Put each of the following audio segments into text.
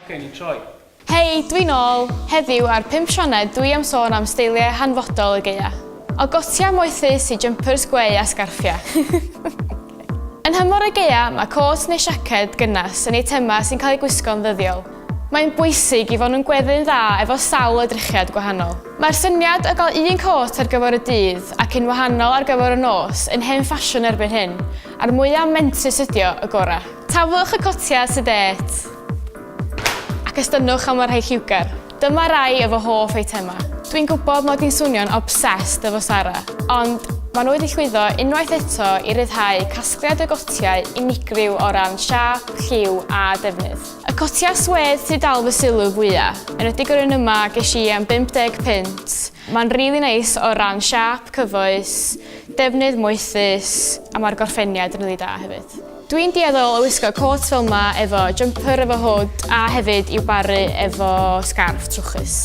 Oce, ni'n troi. Hei, dwi'n ôl! Heddiw ar Pump Sioned dwi am sôn am steiliau hanfodol y geia. O gotiau moethus i jumpers gweu a sgarffiau. Yn nhymor y geia, mae côt neu siaced gynnes yn eitemau sy'n cael eu gwisgo'n ddyddiol, Mae'n bwysig i fod yn gweddu'n dda efo sawl edrychiad gwahanol. Mae'r syniad o gael un côt ar gyfer y dydd ac un wahanol ar gyfer y nos yn hen ffasiwn erbyn hyn, a'r mwya mentrus ydio, y gora. Taflwch y cotiau tu dêt ac estynnwch am y rhai lliwgar. Dyma rai o fy hoff eitemau. Dwi'n gwybod mod i'n swnio'n obsessed efo Sara, ond maen nhw wedi llwyddo unwaith eto i ryddhau casgliad o gotiau unigryw o ran siâp, lliw a defnydd. Y cotiau swêd sydd dal fy sylw fwya, yn ydy yr un yma ges i am 50 punt. Mae'n rili really neis o ran siap, cyfoes, defnydd moethus a mae'r gorffeniad yn rili really da hefyd. Dwi'n dueddol o wisgo cot fel yma efo jumper efo hwd a hefyd i'w baru efo scarf trwchus.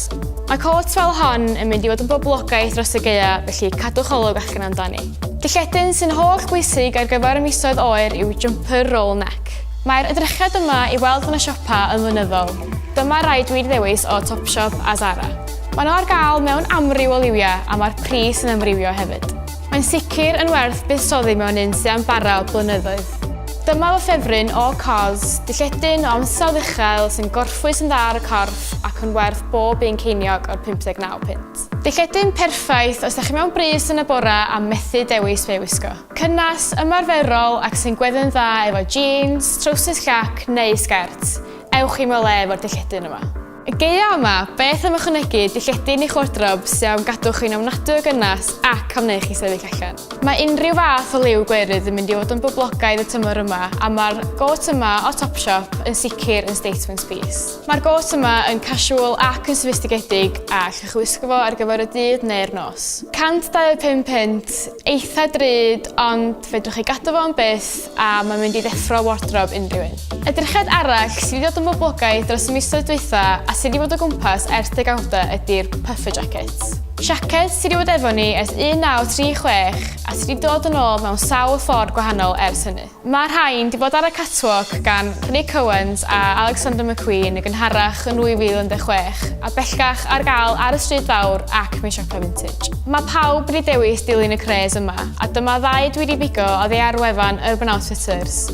Mae cot fel hon yn mynd i fod yn boblogaeth dros y geia, felly cadwch olwg allan amdani. Dylletyn sy'n holl bwysig ar gyfer y misoedd oer yw jumper roll neck. Mae'r edrychiad yma i weld yn y siopa yn flynyddol. Dyma rai dwi'n ddewis o Topshop a Zara. Mae nhw ar gael mewn amryw o liwiau a mae'r pris yn amrywio hefyd. Mae'n sicr yn werth buddsoddi mewn un sydd am bara blynyddoedd. Dyma fy ffefryn o Cos, dilledyn o ansawdd uchel sy'n gorffwys yn dda ar y corff ac yn werth bob un ceiniog o'r 59 punt. Dilledyn perffaith os da chi mewn brys yn y bore a methu dewis be i wisgo. Cynnes, ymarferol ac sy'n gweddu'n dda efo jîns, trowsus llac neu sgert. Ewch i'm o le efo'r dilledyn yma. Y gaeaf yma, beth am ychwanegu dilledyn i'ch wardrob sydd am gadw chi'n ofnadwy o gynnes ac am wneud chi sefyll allan? Mae unrhyw fath o liw gwerydd yn mynd i fod yn boblogaidd y tymor yma a mae'r gôt yma o Topshop yn sicr yn statement piece. Mae'r gôt yma yn casual ac yn soffistigedig a allwch chi wisgo fo ar gyfer y dydd neu'r nos. £125 Eitha drud ond fedrwch chi gadw fo am byth a mae'n mynd i ddeffro wardrob unrhyw un. Edrychiad arall sydd wedi dod yn boblogaidd dros y misoedd dwytha a sydd wedi bod o gwmpas ers degawda ydi'r puffer jackets. Siaced sydd wedi bod efo ni ers 1936 a sydd wedi dod yn ôl mewn sawl ffordd gwahanol ers hynny. Mae'r rhain 'di bod ar y catwalk gan Nick Owens a Alexander McQueen yn gynharach yn 2016 a bellgach ar gael ar y Stryd Fawr ac mewn siopau vintage. Mae pawb wedi dewis dilyn y cres yma a dyma ddau dwi 'di bigo oddi ar wefan Urban Outfitters.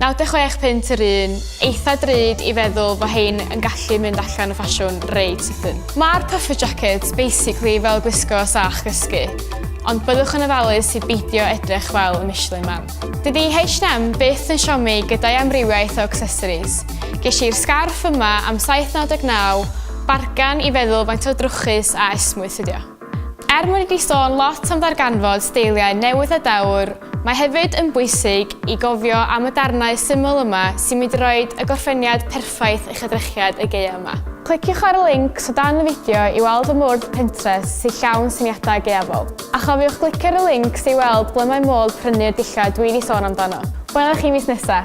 96 punt yr un, eitha drud i feddwl fo hein yn gallu mynd allan o ffasiwn reit sydyn. Mae'r puffer jackets basically fel gwisgo sach gysgu, ond byddwch yn ofalus i beidio edrych fel y Michelin Man. Dydy H&M byth yn siomi gyda'i amrywiaeth o accessories. Ges i'r sgarff yma am 7.99, bargan i feddwl faint o drwchus a esmwyth ydi o. Er mod i wedi sôn lot am ddarganfod steiliau newydd a dewr, mae hefyd yn bwysig i gofio am y darnau syml yma sy'n mynd i roi y gorffeniad perffaith effaith eich edrychiad y gaeaf yma. Cliciwch ar y lincs o dan y fideo i weld y mwrdd Pinterest sy'n llawn syniadau gaeafol. A chofiwch glicio ar y lincs i weld ble mae modd prynu'r dillad dwi 'di sôn amdano. Wela chi mis nesa!